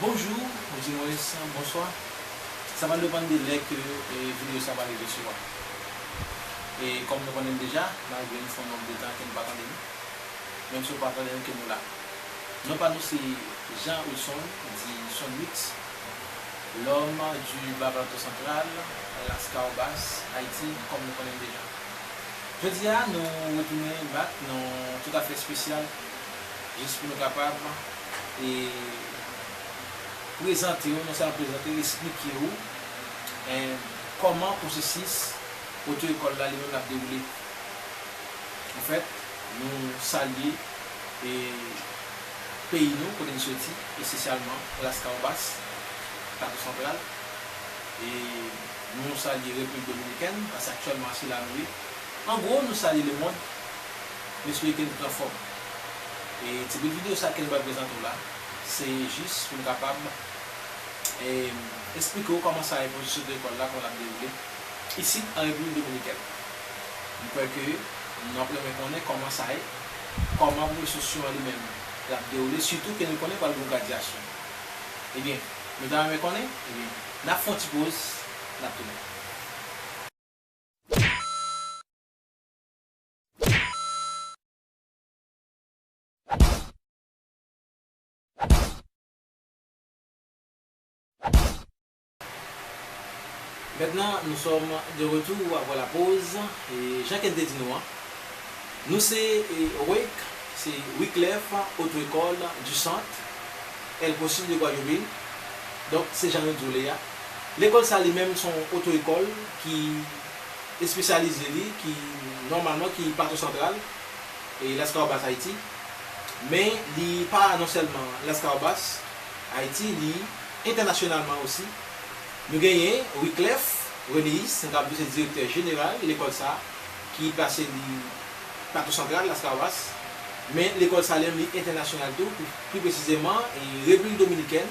Bonjour ou di mwens bonswa sa va depann de lè ke video sa va rive sou a e kòm nou konnenm deja malgre nou fon nonb de tan ke nou pa tande nou menm si ou pa tande nou ke nou la non pa nou se Jean Wilson di Sonwix l'homme du bas plateau central las cahobas Haïti kòm nou konnenm deja jodi a nou retounen back nan yon tout afè spesyal jis pou nou kapab. e prezante ou, non sèlman prezante ou, esplike ou kòman pwosesis oto ekòl la li menm ap dewoule. An fèt, nou salye peyi nou kote n soti, espesyalman Las Caobas, Plato Santral, e nou salye Repiblik Dominikèn, paske aktyèlman se la nou ye. An gwo, nou salye lemond. Mwen swete ou pran fòm. E ti bout video sa kem pral prezante w la se jis poum kapab esplike w kòman sa ye pou sot lekòl la kòman lap dewoule isit an Repiblik Dominikèn. M kwè ke nou ap renmen konnen kòman sa ye, kòman pwofesyon an li menm lap dewoule sitou ke nou konnen pral gon gradyasyon. Ebyen nou ta renmen konnen? Ebyen nap fon ti poz nap tounen. Maintenant nous sommes de retour après la pause e jan ken te di nou an nou se wake se Wiclef Auto Ecole du Centre El Pozo de Guayobin donk se jan nou di w le a lekòl sa li menm son oto ekòl ki espesyalize li ki nòmalman ki Plato Santral e Laskawobas Ayiti. Men li pa non sèlman Laskawobas, Ayiti, li entènasyonalman osi. Nou genyen Wiclef Renéus, nou kapab di se direktè jeneral lekòl sa a ki plase li Plato Santral, Laskawobas. Men lekòl sa a li menm li entènasyonal tou, pou pi presizeman Repiblik Dominikèn.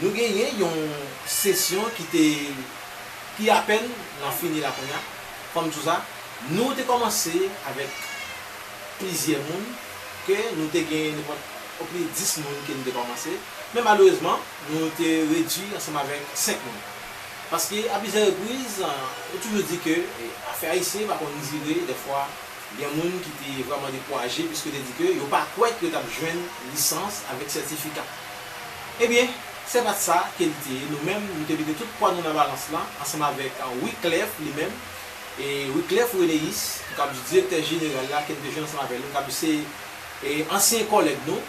Nou genyen yon sesyon ki te ki apèn nan fini la kounye a, fò m di w sa, nou te kòmanse avèk plizyè moun ke nou te gen nenpòt o plis 10 moun ke nou te kòmanse, men malerezman nou te redui ansanm avèk 5 moun. Paske a plizyè repriz nou toujou di ke afè ayisyen pa konn dire, dèfwa gen moun ki te vrèman dekouraje piske yo te di ke yo pa kwè ke yo t ap jwenn lisans avèk sètifika. Ebyen, se pa t sa ke li te ye. Nou menm, nou te mete tout pwa nou nan balans lan, ansanm avèk Wiclef li menm, e Wiclef Renéus, m kab di direktè jeneral la, ke n te jwenn ansanm avè l, m kab di se ansyen kòlèg nou,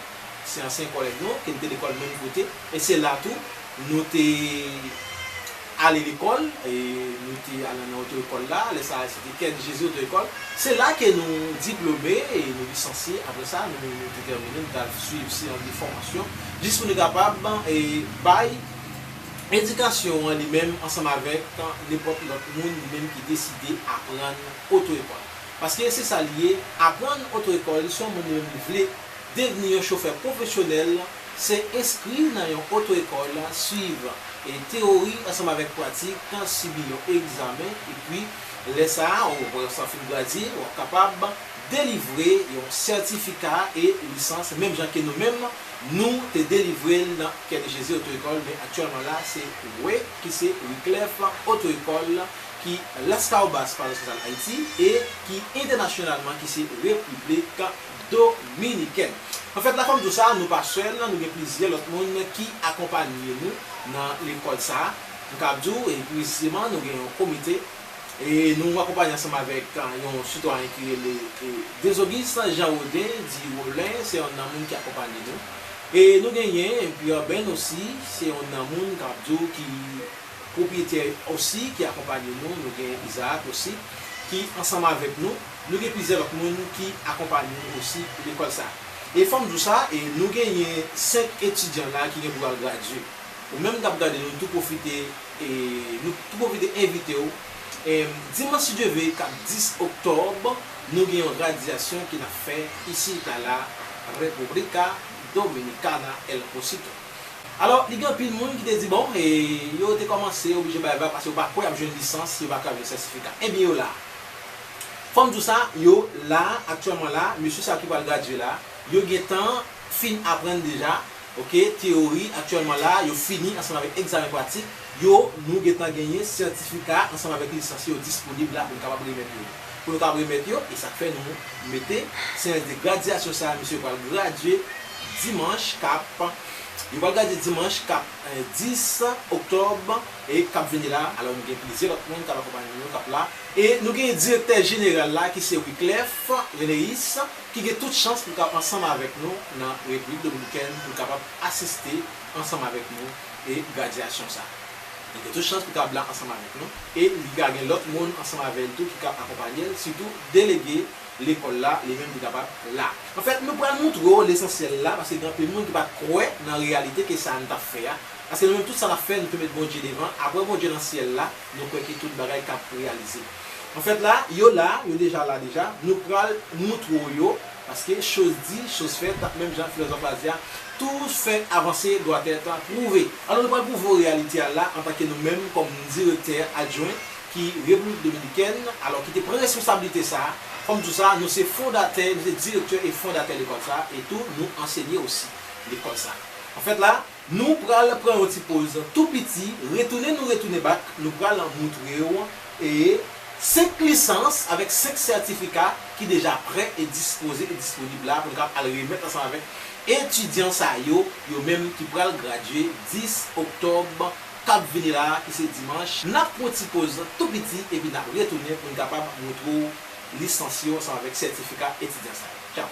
se ansyen kòlèg nou, ke n te lekòl menm kote, e se la tou, nou te. Ale lekòl, e nou te al nan oto ekòl la, lè sa a se te kèn jezi oto ekòl, se la ke nou diplome e nou lisansye, apre sa nou te tèmine nou ta swiv seyans de fòmasyon jis pou nou kapab e bay edikasyon an li menm ansanm avèk nenpòt lòt moun li menm ki deside aprann oto ekòl paske se sa li ye aprann oto ekòl si yon moun li menm li vle devni yon chofè pwofesyonèl Se enskri nan yon oto-ekòl, suiv teyori ansanm avèk pratik, sibi yon egzamen, epi lè sa a ou wè ou sa fin gradye, ou ap kapab delivre yon sètifika e lisans menm jan ke nou menm nou te delivre l nan Kè de Jezi Oto-Ekòl men aktyèlman la se we ki se Wiclef Oto-Ekòl ki Laskawobas Parosyal Ayiti e ki entènasyonalman ki se Repiblik Dominikèn. An fèt la fò m di w sa, nou pa sèl, nou gen plizyè lòt moun ki akonpanye nou nan lekòl sa. M kab di w e presizeman nou gen yon komite e nou akonpanye ansanm avèk yon sitwayen ki rele Désauguste Jean Rodin di Rolin se yonn nan moun ki akonpanye nou e nou genyen Pierre Benn osi se yonn nan moun k ap di w ki pwopyetè osi ki akonpanye nou, nou gen Isaac osi ki ansanm avèk nou. Nou gen plizyè lòt moun ki akonpanye nou osi pou lekòl sa. E fòm di w sa, e nou genyen 5 etidyan la ki gen pou al gradye. Ou menm kap gade nou tou pwofite e nou tou pwofite envite w e dimanch si Dye ve kap 10 oktòb nou gen yon gradyasyon ki nap fè isit a la República Dominicana El Pocito. Alò li gen anpil moun ki te di bon e yo te kòmanse oblije bay vag paske yo pa kwè yap jwenn lisans, yo pa kwè yap jwenn sètifika. Ebyen yo la. Fòm di w sa, yo la, aktyèlman la, mesye sa yo ki pral gradye la, yo gen tan fin aprann deja, ok, teyori, aktyèlman la, yo fini ansanm avèk egzamen pratik yo, nou gen tan genyen sètifika ansanm avèk lisans yo disponib la pou nou kapab remèt yo. Pou nou kapab remèt yo, e sa k fè nou mete seyans de gradyasyon sa a, mesye yo pral gradye dimanch k ap, yo pral gradye dimanch k ap 10 oktòb. e k ap vini la, alò nou gen plizyè lòt moun k ap akonpanye nou yo k ap la, e nou gen direktè jeneral la ki se Wiclef Reneis ki gen tout chans pou l ka ansanm avèk nou nan Repiblik Dominikèn pou l kapab asiste ansanm avèk nou e gradyasyon sa a. Li gen tout chans pou l ka la ansanm avèk nou e li ka gen lòt moun ansanm avè l tou ki ka akonpanye l, sitou delege lekòl la li menm li kapab la. Anfèt, nou pral montre w lesansyèl la paske gen anpil moun ki pa t kwè nan reyalite ke sa a nou t ap fè a Paske nou menm tout sa nap fè nou tou met Bondye devan, aprè Bondye nan syèl la nou kwè ke tout bagay kap reyalize. Anfèt la, yo la, yo deja la deja, nou pral moutre w yo, paske choz di, choz fèt, menm jan filozòf la di a, tou fè avanse doit être prouvé. Alò nou pral prouve w reyalite a la antanke nou menm kòm direktè adjwen ki Repiblik Dominikèn, alò ki te pran responsablite sa, fò m di w sa, nou se fondatè, nou se direktè e fondatè lekòl sa e tou nou ansenye osi lekòl sa. Anfèt la. Nou pral pran yon ti poz tou piti, retounen nou retounen bak nou pral moutrew e 5 lisans avèk 5 sètifika ki deja prè e dispoze e disponib la pou nou kab al remèt ansanm avèk etidyan sa yo, yo menm ki pral gradye 10 oktòb kap vini la ki se dimanch. Nap pran yon ti poz tou piti epi nap retounen pou nou kapab moutrew lisans yo ansanm avèk sètifika etidyan sa yo. Tchaw!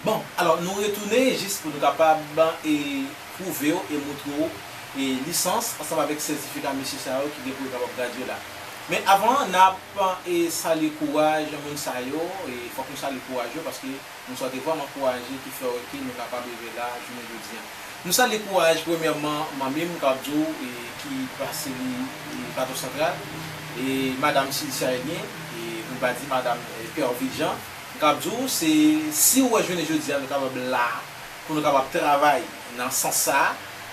Bon, alò nou retounen jis pou nou kapab pwouve w e moutre w lisans ansanm avèk sètifika mesye sa yo ki gen pou yo kapab gradye la. Men avan, n ap salye kouraj moun sa yo, fòk nou salye kouraj yo paske. Nou swete vwa m ankouraje ki fè ok nou kapab rive la jounen jodi an. Nou salye kouraj premyèman manmi m kap di w ki plase li Plato Santral e madam Sylcia Elien e pou n pa di madam Pervy Jean m kap di w se si w wè jounen jodi a nou kapab la pou nou kapab travay nan sans sa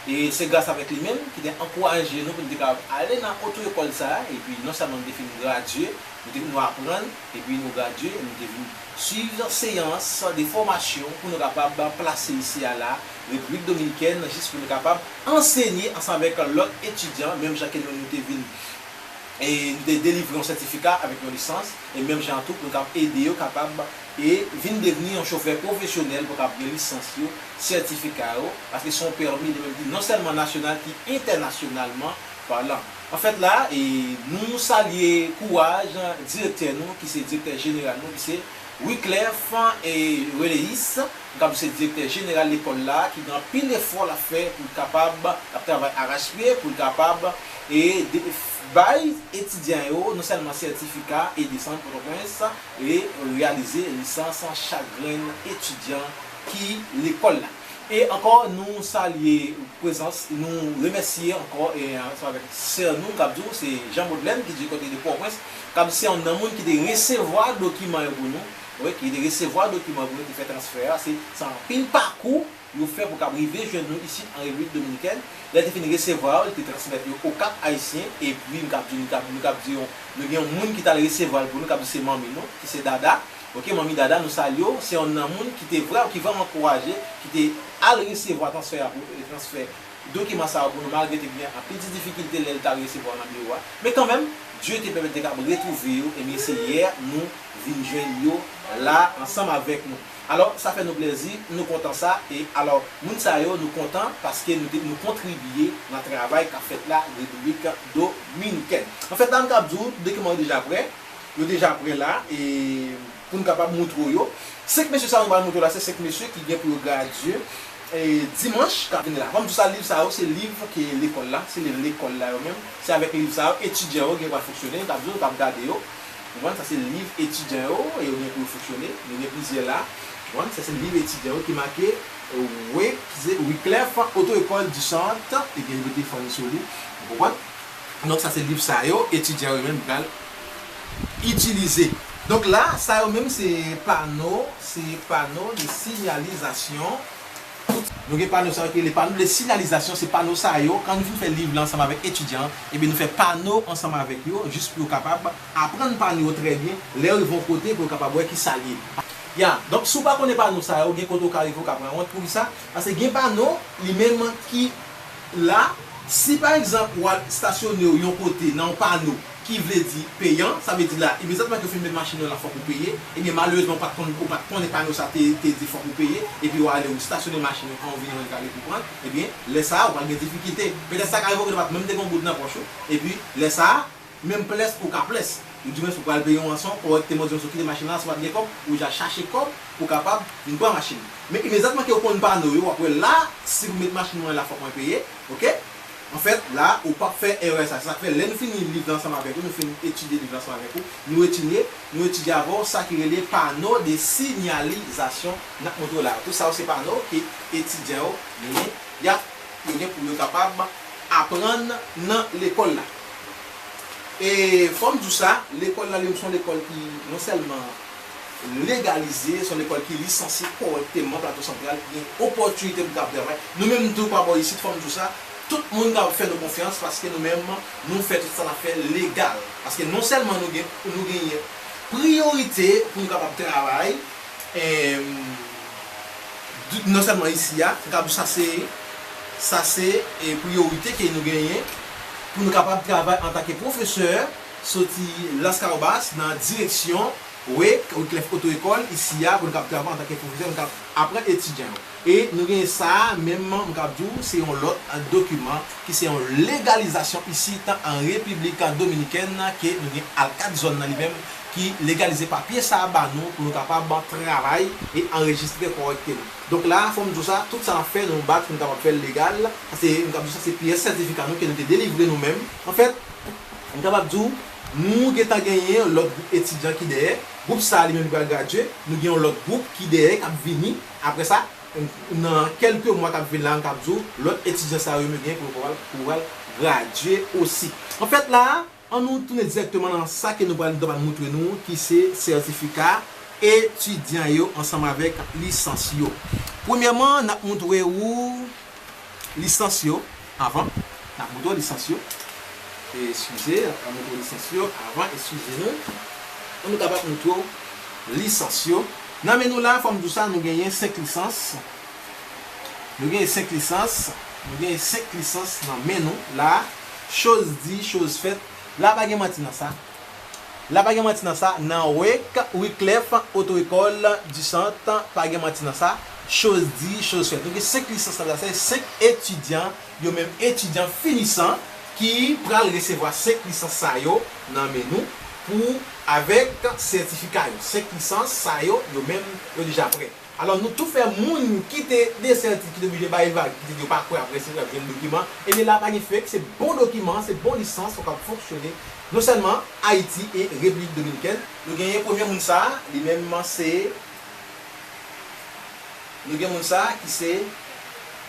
e se gras avèk li menm ki te ankouraje nou pou nou te kapab ale nan oto ekòl sa epi non sèlman nou te fin gradye nou te nou aprann epi nou gradye nou te vin Swiv seyans de fòmasyon pou nou kapab plase misye a la Repiblik Dominikèn jis pou nou kapab ansenye ansanm avèk lòt etidyan menm jan ke nou nou te vin e nou te delivre yon sètifika avèk yon lisans e menm jan an tou pou nou kapab ede yo kapab e vin devni yon chofè pwofesyonèl pou yo kapab gen lisans yo, sètifika yo paske se yon pèmi li menm ki non sèlman nasyonal ki entènasyonalman palan. Anfèt la, nou salye kouraj direktè nou ki se direktè jeneral nou ki se Wiclef Reléus, nou kab di se direktè jeneral lekòl la ki gen anpil efò lap fè pou l kapab, lap travay arachpye pou l kapab bay etidyan yo non sèlman sètifika e desann Pòtoprens e reyalize lisans chak grenn etidyan ki lekòl la. E ankò nou salye prezans, nou remèsye ankò ansanm avèk sè nou kap di w se Jean Beaudelaine ki di kote de Pòwprens, kap di se yonn nan moun ki te resevwa dokiman yo pou nou, wi ki te resevwa dokiman yo pou nou te fè transfè a, se se anpil pakou yo fè pou kab rive jwenn nou isit an Repiblik Dominikèn, lè te fin resevwa yo li te transmèt yo o Cap Haïtien epi m kab di nou kab di nou gen yon moun ki tal resevwa l pou nou kap di se manmi nou ki se Dada. Ok manmi dada nou salye w se yonn nan moun ki te vrèw ki vrèman kouraje ki te al resevwa transfè a pou transfè dokiman sa yo pou nou malgre te gen anpil ti difikilte lèl tal resevwa nan biwo a men kanmenm Dye te pèmèt te kab retwouve yo ebyen se yè nou vin jwenn yo la ansanm avèk nou alò sa fè nou plèzi nou kontan sa e alò moun sa yo nou kontan paske nou te nou kontribye nan travay kap fèt la repiblik dominikèn anfèt la m kab di w dokiman yo deja prè. yo deja prè la e pou n kapab moutre w yo. Senk mesye sa yo m pral moutre w la se senk mesye ki gen pou yo gradye dimanch k ap vini la. Fò m di w sa, liv sa yo se liv ke lekòl la, se liv lekòl la yo menm. Se avèk liv sa yo etidyan yo gen pou al fonksyone, yo t ap di w, yo t ap gade yo. Ou konprann? Sa se liv etidyan yo e yo gen pou yo fonksyone. Nou gen plizyè la. Ou konprann? Sa se liv etidyan yo ki make Wiclef Auto-Ecole du Centre e gen yo mete fann sou li. Ou konprann? Donk sa se liv sa yo etidyan yo menm pral itilize. Donk la, sa yo menm se pano, se pano de sinyalizasyon. Nou gen pano sa yo ki rele pano de sinyalizasyon, se pano sa yo, kan nou fin fè liv la ansanm avèk etidyan an, ebyen nou fè pano ansanm avèk yo jis pou yo kapab aprann pano yo trè byen, lè yo rive yon kote pou yo kapab wè ki sa l ye. Ya, donk si w pa konnen pano sa yo, gen kote ou ka rive ou ka pran wont. Poukisa? Paske gen pano li menm ki la, si pa egzanp w al stasyone w yon kote nan yon pano ki vle di peyan, sa vle di la imedyatman ke w fin met machin nan la fòk ou peye, ebyen malerezman ou pa t konn ou pa t konnen pano sa te te di fòk ou peye, epi w ale ou stasyone machin ou an ou vini jwenn kale pou pran l, ebyen lè sa a ou pral gen difikilte. Petèt sa ka rive w ke ou pa t menm te gen yon goud nan pòch ou, epi lè sa a, Menm ples pou w ka ples. Yo di mwen si w pral peye yon ranson kòrèkteman, di yo si w kite machin lan si w pa t gen kòb, ou ja chache kòb pou w kapab vin pran machin. Men imedyatman ke w konn pano yo, w ap wè la si pou met machin mwen la fòk mwen peye, ok. Anfèt, la ou p ap fè erè sa. Se sa k fè lè nou fini liv la ansanm avèk ou, nou fin etidye liv la ansanm avèk ou, nou etinye, nou etidye avè w sa ki rele pano de sinyalizasyon n ap montre w la yo. Tout sa yo se pano ke etidyan yo genyen, y ap, yo gen pou yo kapab aprann nan lekòl la. E fò m di w sa, lekòl la li menm se yon lekòl ki non sèlman legalize, se yon lekòl ki lisansye kòrèkteman Plato Santral, ki gen opòtinite pou kapab travay. Nou menm tou pa bò isit, fò m di w sa, tout moun kapab fè nou konfyans paske nou menm nou fè tout sa n ap fè legal. Paske non sèlman nou gen, nou genyen priyorite pou nou kapab travay, Emm non sèlman isi a, m kab di sa se sa se priyorite ke nou genyen pou nou kapab travay antake pwofesè soti Laskawobas nan direksyon Wake, Wyclef Oto Ekòl isi a pou nou kab travay antake pwofesè nou kab aprann etidyan yo. E nou genyen sa a menm m kab di w se yon lòt dokiman ki se yon legalizasyon isit an Repiblik Dominikèn ke nou gen alkad zòn nan li menm ki legalize papye sa a ba nou pou nou kapab travay e anrejistre kòrèkteman. Donk la a fò m di w sa, tout sa n ap fè nou bat pou nou kapab fè l legal, sa se m kab di w sa se pyès sètifika nou ke nou te delivre nou menm. Anfèt, m kapab di w nou gen tan genyen yon lòt gwoup etidyan ki dèyè, gwoup sa a li menm li pral gradye, nou gen yon lòt gwoup ki dèyè k ap vini, Apre sa, nan kèlke mwa k ap vin la, m kab di w, lòt etidyan sa yo menm genyen pou yo pral gradye osi. Anfèt la a, an nou tounen dirèkteman nan sa ke nou pral ta pral moutre nou ki se sètifika etidyan yo ansanm avèk lisans yo. Premyèman, n ap moutre ou. Lisans yo avan Nan moto lisans yo Eskize Nan moto lisans yo avan Eskize nou Pou nou kapab montre w lisans yo Nan men nou la a fò m di w sa nou genyen 5 lisans Nou genyen 5 lisans Nou genyen 5 lisans nan men nou la a Choz di choz fèt La a pa gen manti nan sa a. la pa gen manti nan sa nan wek wiclef oto ekol di sant pa gen manti nan sa choz di choz fèt nou gen 5 lisans nan sa se 5 etidyan yo menm etidyan finisan ki pral resevwa 5 lisans sa yo nan men nou pou avek sètifika yo 5 lisans sa yo yo menm yo deja prè. Alò nou tou fè moun ki te desèti ki te oblije bay vag ki te di yo pa kwè aprè se yo kap jwenn dokiman ebyen la pa gen fake se bon dokiman se bon lisans fòk ap fonksyone non sèlman Ayiti e Repiblik Dominikèn. Nou genyen premye moun sa li menm se nou gen moun sa ki se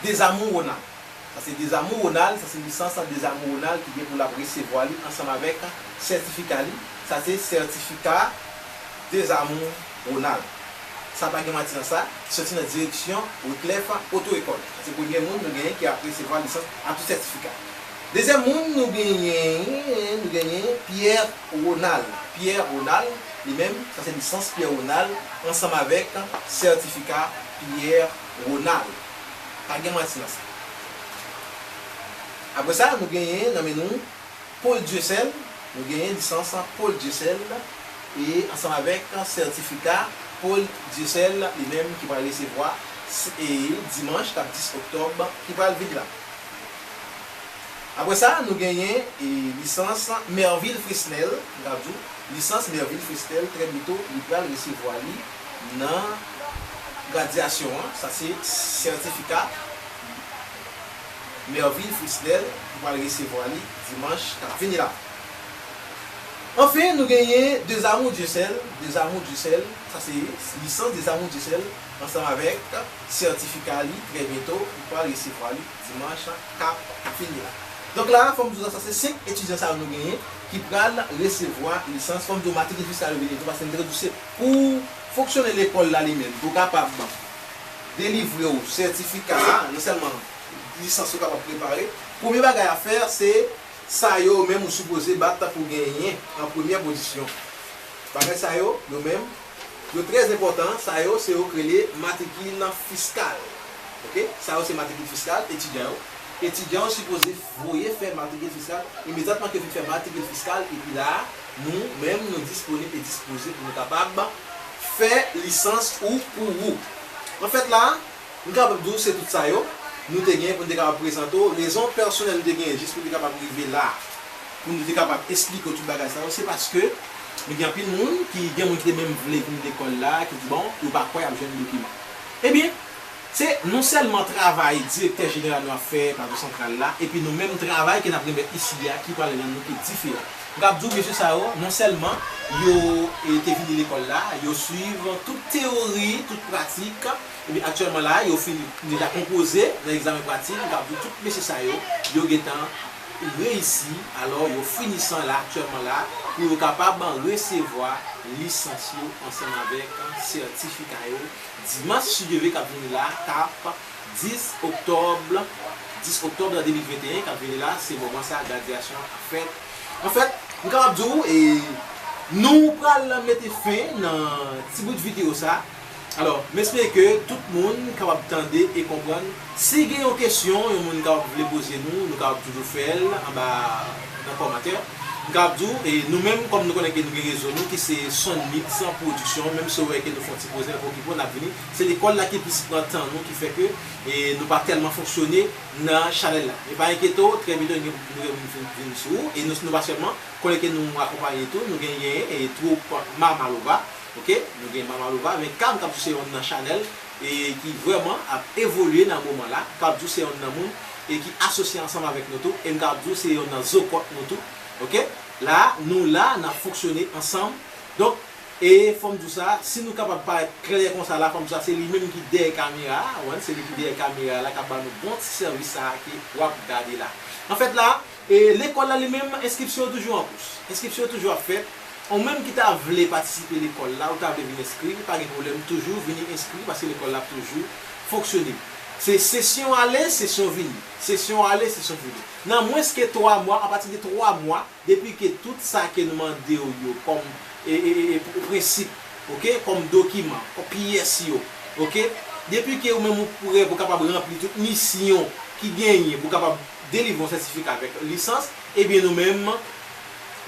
Desamour Ronald sa se Desamour Ronald sa se lisans Desamour Ronald ki gen pou lap resevwa li ansanm avèk sètifika li sa se sètifika Desamour Ronald. Sa pa gen manti nan sa, ki sòti nan direksyon Wyclef Auto Ecole. Se premye moun nou genyen ki ap resevwa lisans ak tout sètifika. Dezyèm moun nou genyen, nou genyen Pierre Ronald. Pierre Ronald, li menm, sa se lisans Pierre Ronald ansanm avèk sètifika Pierre Ronald. Pa gen manti nan sa. Apre sa, nou genyen nan men nou. Paul Dieuseul, nou genyen lisans Paul Dieuseul e ansanm avèk sètifika Paul Dieuseul li menm ki pral resevwa e dimanch kap 10 oktòb ki pral vin la. Aprè sa nou genyen e lisans Mervil Fresnel, m kab di w lisans Mervil Fresnel trè byento li pral resevwa li nan gradyasyon an, sa se sètifika. Mervil Frisnel ki pral resevwa li dimanch kap vini la. Anfen nou genyen Deux Amours Dieu Seul, Deux Amours Dieu Seul, sa se lisans Deux Amours Dieu Seul ansanm avèk sètifika li trè byento nou pral resevwa li dimanch kap vini la. Donk la fòm di w sa se 5 etidyan sa yo nou genyen ki pral resevwa lisans, fòm di w matrikiljis la yo vini tou paske nou te ka di w se pou fonksyonè lekòl la li menm pou kapab delivre ou sètifika a, non sèlman lisans ou kapab prepare, premye bagay a fè se sa yo menm ou sipoze bat tankou w genyen an premyè pozisyon. Bagay sa yo, yo menm, yo trè enpòtan, sa yo se yo k rele matrikil fiskal. Ok, sa yo se matrikil fiskal etidyan yo. Etidyan yo sipoze voye fè matrikil fiskal imedyatman ke yo fin fè matrikil fiskal epi la a, Nou menm nou disponib e dispoze pou nou kapab fè lisans ou pou ou. An fèt la, m kapab di w se tout sa yo nou te genyen pou n te kapab prezante w. Rezon pèsonèl nou te genyen jis pou n te kapab rive la a, pou nou te kapab esplike w tout bagay sa yo, se paske nou gen anpil moun ki gen moun ki te menm vle vin lekòl la a ki di bon yo pa kwè y ap jwenn dokiman. Ebyen, Se non sèlman travay Direktè Jeneral nou ap fè Plato Santral la, epi nou menm travay ke n ap remèt isi a ki pral rann nou ki diferan. M kab di w mesye sa yo, non sèlman yo te vini lekòl la, yo suiv tout teyori, tout pratik, epi aktyèlman la yo fin deja konpoze nan egzamen pratik, m kab di w tout mesye sa yo, yo gen tan reyisi, alò yo finisan la aktyèlman la pou yo kapab resevwa lisans yo ansanm avèk sètifika yo. Dimanch Chideve k ap vini la a k ap 10 oktòb 10 oktòb 2021 k ap vini la a se moman sa a gradyasyon an ap fèt anfèt m kapab di w e nou pral mete fen nan ti bout videyo sa a alò m espere ke tout moun kapab tande e konprann Si gen yon kesyon yon moun kapab vle poze nou, nou kapab toujou fè l anba nan kòmantè. M kapab di w, e nou menm kòm nou konnen ke nou gen rezo nou ki se Sonmix Production, menm si w wè ke nou fè yon ti poze nap okipe w nap vini, se lekòl la ki plis pran tan nou ki fè ke nou pa tèlman fonksyone nan chanèl la. Men pa enkyete w, trè byento nou gen pou nou gen moun fin vin sou ou, e nou nou pa sèlman, konnen ke nou akonpanye tou, nou genyen twoup Mama Lova, ok, nou gen Mama Lova, men Cam kap di w se yon nan chanèl e ki vrèman ap evolye nan moman la, m kab di w se yonn nan moun e ki asosye ansanm avèk nou tou, e m kab di w se yonn nan zo kòt nou tou, ok, la a, nou la a, n ap fonksyone ansanm, donk, e fò m di w sa, si nou kapab parèt klè konsa la, fò m di w sa, se li menm ki dèyè kamera a, ou konprann, se li ki dèyè kamera a la k ap ba nou bon ti sèvis sa a ke w ap gade la. Anfèt la a, E lekòl la li menm, enskripsyon yo toujou an kous. Enskripsyon yo toujou ap fèt. Ou menm ki ta vle patisipe lekòl la, ou ta vle vin enskri, pa gen pwoblèm, toujou vini enskri paske lekòl la ap toujou fonksyone. Se sesyon ale, sesyon vini. Sesyon ale, sesyon vini. Nan mwens ke 3 mwa, apati de 3 mwa, depi ke tout sa ke nou mande ou yo kòm e, e, e, e, prensip, ok, kòm dokiman, kòm pyès yo, ok, depi ke ou menm ou prè pou kapab ranpli tout misyon ki genyen pou kapab. delivre yon sètifika avèk lisans ebyen nou menm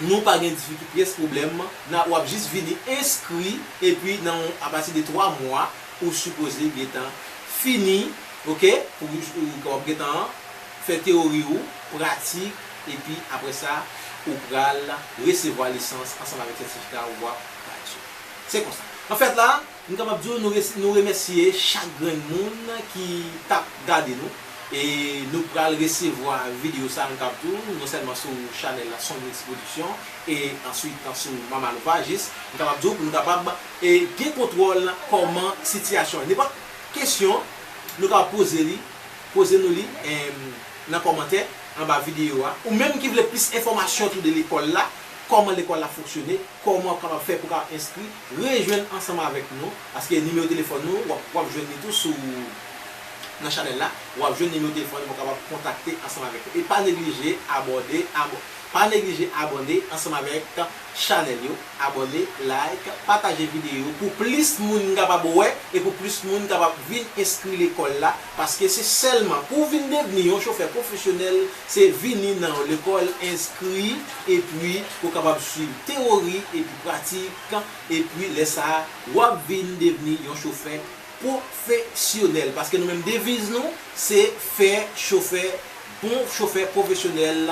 nou pa gen difikilte pyès pwoblèm nan wap jis vini enskri epi nan yon apati de 3 mwa ou sipoze gentan fini ok pou ou wap gentan fè teyori ou pratik epi aprè sa ou pral resevwa lisans ansanm avèk sètifika wap pati se konsa anfèt la. M kapab di w nou resi nou remèsye chak grenn moun ki t ap gade nou e nou pral resevwa videyo sa an kap tou non sèlman sou chanèl la Sonmix Production e answit sou Mama Lova jis m kapab di w pou nou kapab e gen kontwòl kòman sitiyasyon an. Nenpòt kesyon nou kapab poze li poze nou li em nan kòmantè anba videyo a ou menm ki vle plis enfòmasyon tou de lekòl la kòman lekòl la fonksyone kòman w kapab fè pou w ka enskri Rejwenn ansanm avèk nou paske nimewo telefòn nou wap wap jwenn li tou sou nan chanèl la wap jwenn nimewo telefòn nou pou kapab kontakte ansanm avèk nou e pa neglije abòde abo pa neglije abòne ansanm avèk chanèl yo abòne like pataje videyo pou plis moun kapab wè e pou plis moun kapab vin enskri lekòl la Paske se sèlman pou w vin devni yon chofè pwofesyonèl, se vini nan yon lekòl, enskri, epi ou kapab suiv tewori epi pratik, epi lè sa a w ap vin devni yon chofè pwofesyonèl. Paske nou menm deviz nou se fè chofè bon chofè pwofesyonèl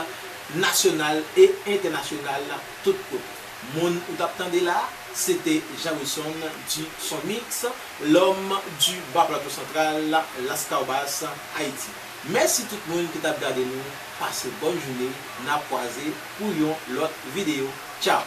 nasyonal e entènasyonal tout kote. Moun ou tap tande la, se te Jameson du Son Mix, l'homme du Bas Plateau Central, Lascaubasse, Haiti. Mèsi tout moun ki tap gade nou, pase bòn joune, nap kwaze pou yon lòt video. Tchao!